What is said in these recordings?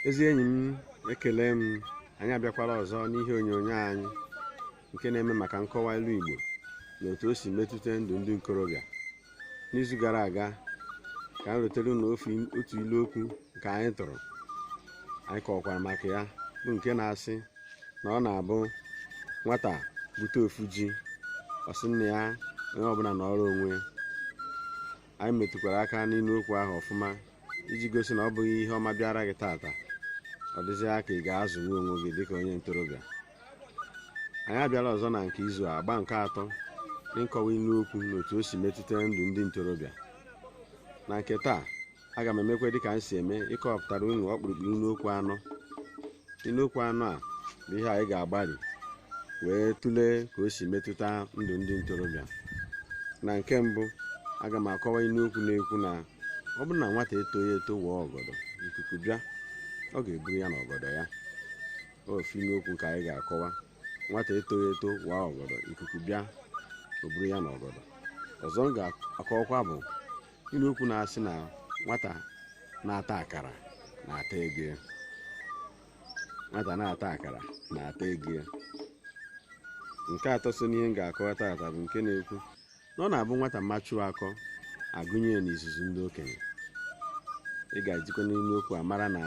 ezi enyi m ekele m anyị abịakwala ọzọ n'ihe onyonyo anyị nke na-eme maka nkọwa ilu Igbo na otu o si metụta ndụ ndị nkorobịa n'izu gara aga ka anyị rutere unu otu ilu okwu nke anyị tụrụ anyị kọwakwara maka ya bụ nke na-asị na ọ na-abụ nwata bute ofu ji ọ sị nna ya onye ọbụla nọrọ onwe anyị metụkwara aka n'ilu okwu ahụ ọfụma iji gosi na ọ bụghị ihe ọma bịara gị tata ọ dịzịa ka ị ga-azụnwu onwe gị dịka onye ntorobịa anyị abịala ọzọ na nke izu a agba nke atọ n'ịkọwa ilu okwu na otu o si metụta ndụ ndị ntorobịa na nke taa aga m emekwa dịka m si eme ịkọpụtara unu ọkpụrụkpụ ilu okwu anọ ilu okwu anọ a bụ ihe anyị ga-agbalị wee tụlee ka o si metụta ndụ ndị ntorobịa na nke mbụ aga m akọwa ilu okwu na-ekwu na ọ bụrụ na nwata etoghị eto waa ọgọdọ ikuku bịa ọ ga-eburu ya na ọgọdọ ya ofu ilu okwu ka anyị ga-akọwa nwata etoghị eto waa ọgọdọ ikuku bịa o buru ya na ọgọdọ ọzọ m ga-akọwakwa bụ ilu okwu na-asị na nwata na-ata akara na-ata ego ya. nwata na-ata akara na-ata ego ya. nke atọ so n'ihe m ga-akọwa tata bụ nke na-ekwu na ọ na-abụ nwata machuo akọ a gụnye ya n'izuzu ndị okenye ị ga-esikwa n'ilu okwu a mara na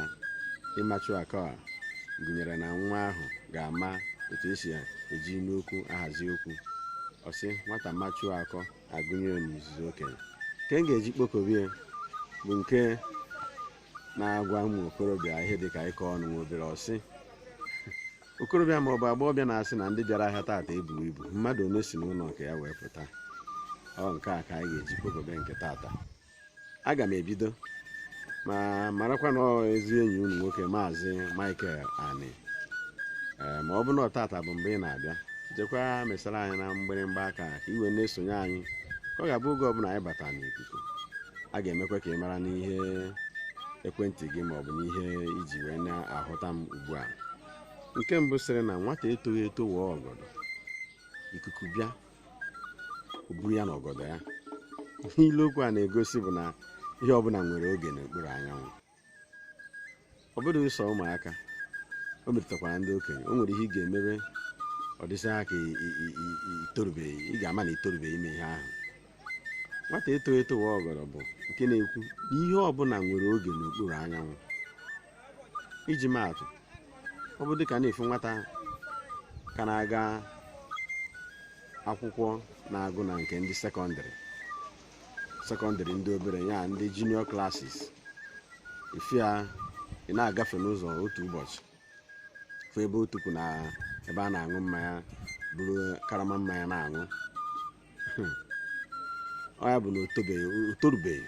ịmachu akọ a gụnyere na nwa ahụ ga-ama otu esi eji ilu okwu ahazi okwu ọ sị nwata machuo akọ a gụnye ya n'izuzu okenye nke m ga-eji kpokobie bụ nke na-agwa ụmụ okorobịa ihe dị ka ịkọ ọnụ nwa obere ọ sị okorobịa ma ọ bụ agbọghọbịa na-asị na ndị bịara ahịa taata ebughi ibu mmadụ ole si n'ụlọ nke ya wee pụta ọ nke a ka anyị ga-eji kpokobie nke taata aga m ebido ma marakwa na ezi enyi unu nwoke maazị Michael Ani ee ma ọ bụ na ọ taata bụ mgbe ị na-abịa jekwa mesara anyị na mgbịrịmgba aka ka i wee na-esonye anyị ka ọ ga-abụ oge ọbụla anyị bata n'ikuku a ga-emekwa ka ị mara n'ihe ekwentị gị maọbụ n'ihe i ji wee na-ahụta m ugbu a nke mbụ sịrị na nwata etoghị eto wa ọgọdọ ikuku bịa o buru ya na ọgọdọ ya ihe ilu okwu a na-egosi bụ na ihe ọbụla nwere oge n'okpuru anyanwụ ọ bụghị sọ ụmụaka o metụtakwara ndị okenye o nwere ihe ị ga-emebe ọ dịsị ha ka i- i- i- i- i- itorubeghị ị ga-ama na itorubeghị ime ihe ahụ nwata etoghị eto wa ọgọdọ bụ nke na-ekwu na ihe ọbụla nwere oge n'okpuru anyanwụ iji maatụ ọ bụ dịka na ị fụ nwata ka na-aga akwụkwọ na-agụ na nke ndị sekọndịrị sekọndịrị ndị obere ya ndị junior classes ị fụ ya ị na-agafe n'ụzọ otu ụbọchị fụ ebe otu kwụ na ebe a na-aṅụ mmanya buru karama mmanya na-aṅụ ọ ya bụ na o torubeghị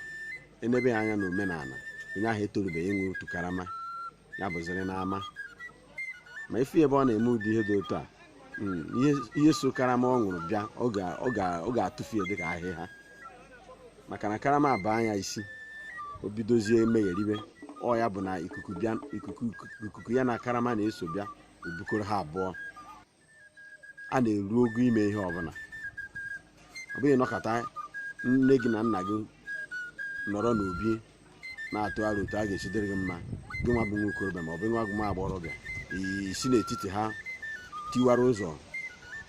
e nebe ya anya na omenala onye ahụ etorubeghị ịṅụ otu karama ya bụziri n'ama ma ị fụ ebe ọ na-eme ụdị ihe dị otu a hmm, ihe so karama ọ ṅụrụ bịa ọ ga-atụfu ya dịka ahịhịa maka na karama baa ya isi o bidozie megheribe ọ ya bụ na ikuku ya na karama na-eso bịa o bukọrọ ha abụọ a na-eru ogo ime ihe ọbụla ọ bụghị nọkọta nne gị na nna gị nọrọ n'obi na-atụ aro otu a ga-esi dịrị gị mma gị nwa bụ nwa okorobịa ma ọ bụ nwa bụ nwa agbọghọbịa i si n'etiti ha tiwara ụzọ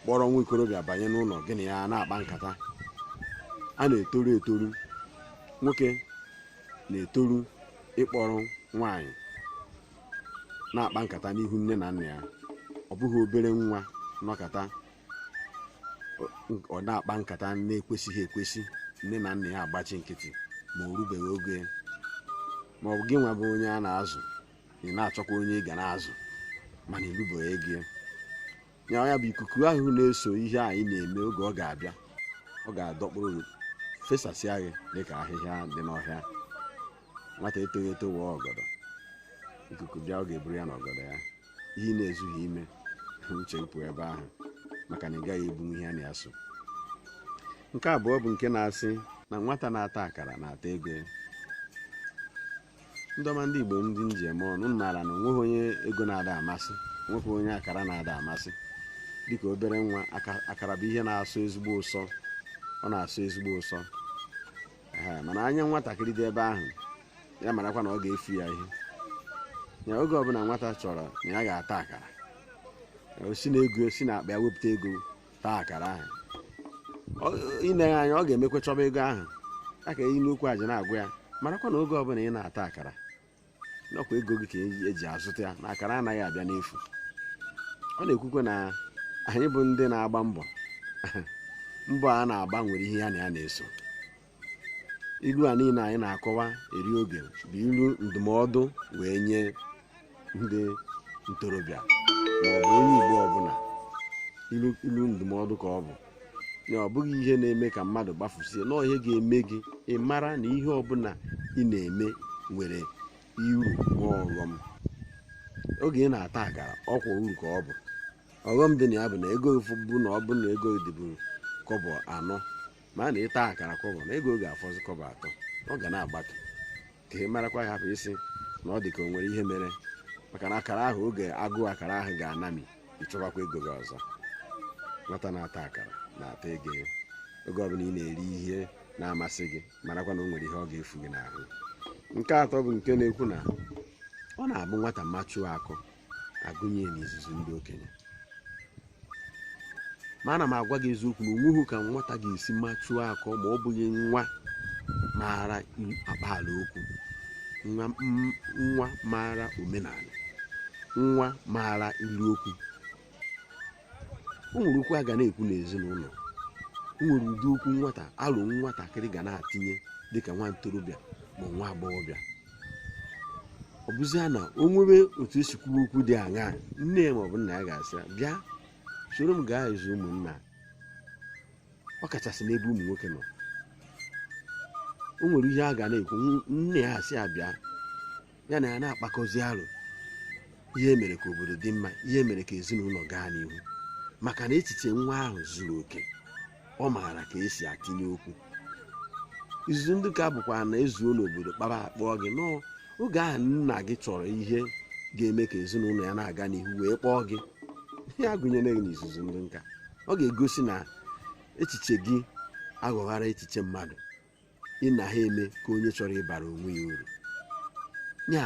kpọrọ nwa okorobịa banye n'ụlọ gị na ya na-akpa nkata a na-etoru etoru nwoke na-etoru ịkpọrọ nwaanyị na-akpa nkata n'ihu nne na nna ya ọ bụghị obere nwa nọkata ọ na-akpa nkata na-ekwesịghị ekwesị nne na nna ya agbachi nkịtị ma o rubeghị oge ma ọ bụ gị nwa bụ onye a na-azụ ị na-achọkwa onye ị ga na-azụ mana i rubeghị ogo ya ya bụ ikuku ahụ na-eso ihe anyị na-eme oge ọ ga-abịa ọ ga-adọkpụrụ gị fesasịa gị dịka ahịhịa dị n'ọhịa nwata etoghị eto wa ọgọdọ ikuku bịa ọ ga-eburu ya na ọgọdọ ya ihe ị na-ezughị ime uche pụọ ebe ahụ maka na ị gaghị ebunwu ihe na ya so nke abụọ bụ nke na-asị na nwata na-ata akara na-ata ego ndị ọma ndị igbo ndị m ji eme ọnụ unu maara na onweghị onye ego na-ada amasị nweghị onye akara na-ada amasị dịka obere nwa akara bụ ihe na-asọ ezigbo ụsọ ọ na-asọ ezigbo ụsọ mana anya nwatakịrị dị ebe ahụ ya marakwa na ọ ga-efu ya ihe ya oge ọbụla nwata chọrọ na ya ga-ata akara o si na ego si na akpa ya wepụta ego taa akara ahụ i nee ya anya ọ ga-emekwa chọba ego ahụ ya ka ilu okwu a ji na-agwa ya marakwa na oge ọbụla ị na-ata akara na ọkwa ego gị ka eji azụta ya na akara anaghị abịa n'efu ọ na-ekwukwe na anyị bụ ndị na-agba mbọ mbọ a na-agba nwere ihe ya na ya na-eso ilu a niile anyị na-akọwa eri oge bụ ilu ndụmọdụ wee nye ndị ntorobịa maọbụ onye igbo ọbụla ilu ndụmọdụ ka ọ bụ na ọ bụghị ihe na-eme ka mmadụ gbafusie na ihe ga-eme gị ị mara na ihe ọbụla ị na-eme nwere uru na ọghọm oge ị na-ata akara ọkwa uru ka ọ bụ ọghọm dị na ya bụ na ego bụ na ọ bụ na ego dịbu kọbọ anọ mana ị taa akara kọbọ na ego ga-afọzi kọbọ atọ ọ ga na-agbatu ka ị marakwa ya hapụ ịsị na ọ dị ka o nwere ihe mere maka na akara ahụ oge agụụ akara ahụ ga-anami ị chọbakwa ego gị ọzọ nwata na-ata akara na-ata ego ya oge ọbụla ị na-eri ihe na-amasị gị marakwa na o nwere ihe ọ ga-efu gị n'ahụ nke atọ bụ nke na-ekwu na ọ na-abụ nwata machuo akọ agụnye ya n'izuzu ndị okenye ma ana m agwa gị eziokwu na onweghị ka nwata ga-esi machuo akọ ma ọ bụghị nwa maara akpaala okwu nwa m- nwa maara omenala nwa maara ilu okwu o nwere okwu a ga na-ekwu n'ezinụlọ o nwere ụdị okwu nwata ahụ nwatakịrị ga na-atinye dịka nwa ntorobịa ma nwa agbọghọbịa ọ bụzia na o nwere otu esi kwuo okwu dị aṅaa nne ya maọbụ nna ya ga-asị ya bịa soro m gaa izu ụmụnna ọ kachasị n'ebe ụmụ nwoke nọ o nwere ihe a ga na-ekwu nne ya asị ya bịa ya na ya na-akpakọzi aro ihe mere ka obodo dị mma ihe mere ka ezinụlọ gaa n'ihu maka na echiche nwa ahụ zuru oke ọ maara ka esi atinye okwu izuzu ndị nka bụkwa na ezuo n'obodo kpara akpọọ gị n'oge ahụ nna gị chọrọ ihe ga-eme ka ezinụlọ ya na-aga n'ihu wee kpọọ gị ihe a gụnyere gị n'izuzu ndị nka ọ ga-egosi na echiche gị aghọghara echiche mmadụ ị na ha eme ka onye chọrọ ịbara onwe ya uru ya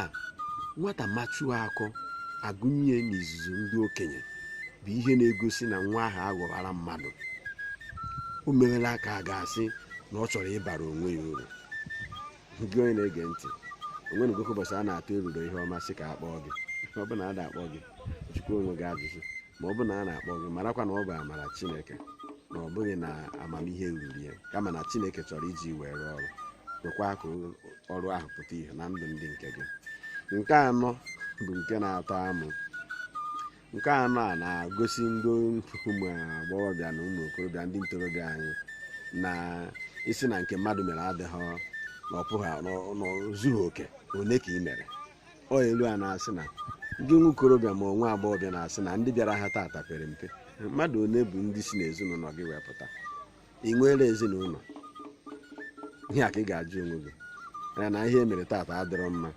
nwata machuo akọ agụnye ya n'izuzu ndị okenye bụ ihe na-egosi na nwa ahụ aghọghara mmadụ o merela ka a ga-asị na ọ chọrọ ịbara onwe ya uru gị onye na-ege ntị o nwegokwa ụbọchị a na-atụ eruro ihe ọma sị ka a kpọọ gị ọ bụrụ na ada akpọ gị jụkwa onwe gị ajụjụ ma ọ bụ na a na-akpọ gị marakwa na ọ bụ amara chineke na ọ bụghị na amamihe ruru ya kama na chineke chọrọ iji wee rụọ ọrụ kwekwa ka o- ọrụ ahụ pụta ihe na ndụ ndị nke gị nke anọ bụ nke na-atọ amụ nke anọ a na-agosi ndị ụmụ agbọghọbịa na ụmụ okorobịa ndị ntorobịa anyị na ị sị na nke mmadụ mere adịghị na ọ pụghị na ọ- na o zughị oke one ka ị mere ọ ilu a na-asị na gị nwa okorobịa ma ọ nwa agbọghọbịa na-asị na ndị bịara ahịa taata pere mpe mmadụ one bụ ndị si n'ezinụlọ gị wee pụta ị nweela ezinụlọ ihe a ka ị ga-ajụ onwe gị na ihe e mere taata adịrọ mma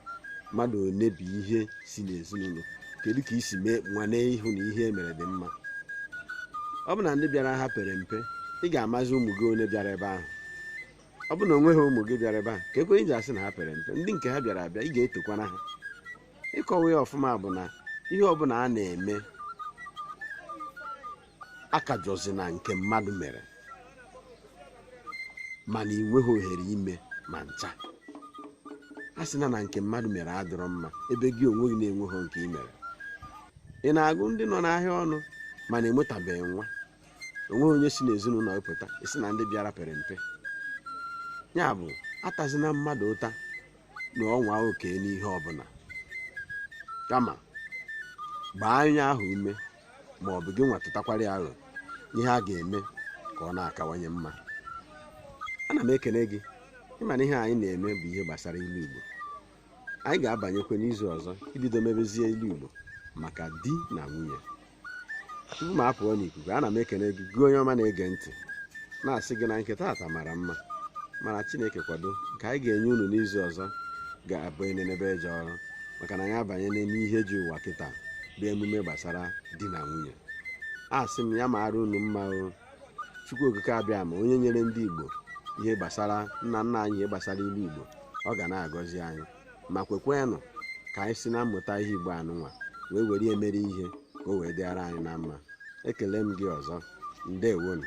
mmadụ one bụ ihe si n'ezinụlọ kedu ka i si mee nwane ịhụ na ihe e mere dị mma ọ bụ na ndị bịara ahịa pere mpe ị ga-amazi ụmụ gị one bịara ebe ahụ ọ bụ na o nweghị ụmụ gị bịara ebe a keekwa ihe i ji asị na ha pere mpe ndị nke ha bịara abịa ị ga-etokwanụ ha ịkọwa ya ọfụma bụ na ihe ọbụla a na-eme akajọzina nke mmadụ mere mana ị nweghị ohere ime ma ncha asịna na nke mmadụ mere adịrọ mma ebe gị onwe gị na-enweghị nke ị mere ị na-agụ ndị nọ n'ahịa ọnụ mana enwetabeghị nwa o nweghị onye si n'ezinụlọ gị pụta ị sị na ndị bịara pere mpe ya bụ atazina mmadụ ụta na ọ nwa oke n'ihe ọbụla kama gbaa onye ahụ ume ma ọ bụ gị nwa tụtakwara ya aro ihe a ga-eme ka ọ na-akawanye mma ana m ekele gị ị ma na ihe anyị na-eme bụ ihe gbasara ilu Igbo anyị ga-abanyekwa n'izu ọzọ ibido mebezie ilu Igbo maka di na nwunye tupu m apụọ n'ikuku ana m ekene gị gị onye ọma na-ege ntị na-asị gị na nke taata mara mma mana chineke kwado nke anyị ga-enye unu n'izu ọzọ ga-abụ enenebe eje ọrụ maka na anyị abanye n'ihe ji ụwa kịta bụ emume gbasara di na nwunye asị m ya mara unu mma o chukwu okike abịama onye nyere ndị igbo ihe gbasara nna nna anyị ihe gbasara ilu igbo ọ ga na-agọzi anyị ma kwekwenụ ka anyị si na mmụta ihe igbo anụnwa wee were ya mere ihe ka o wee dịara anyị na mma ekele m gị ọzọ ndewonu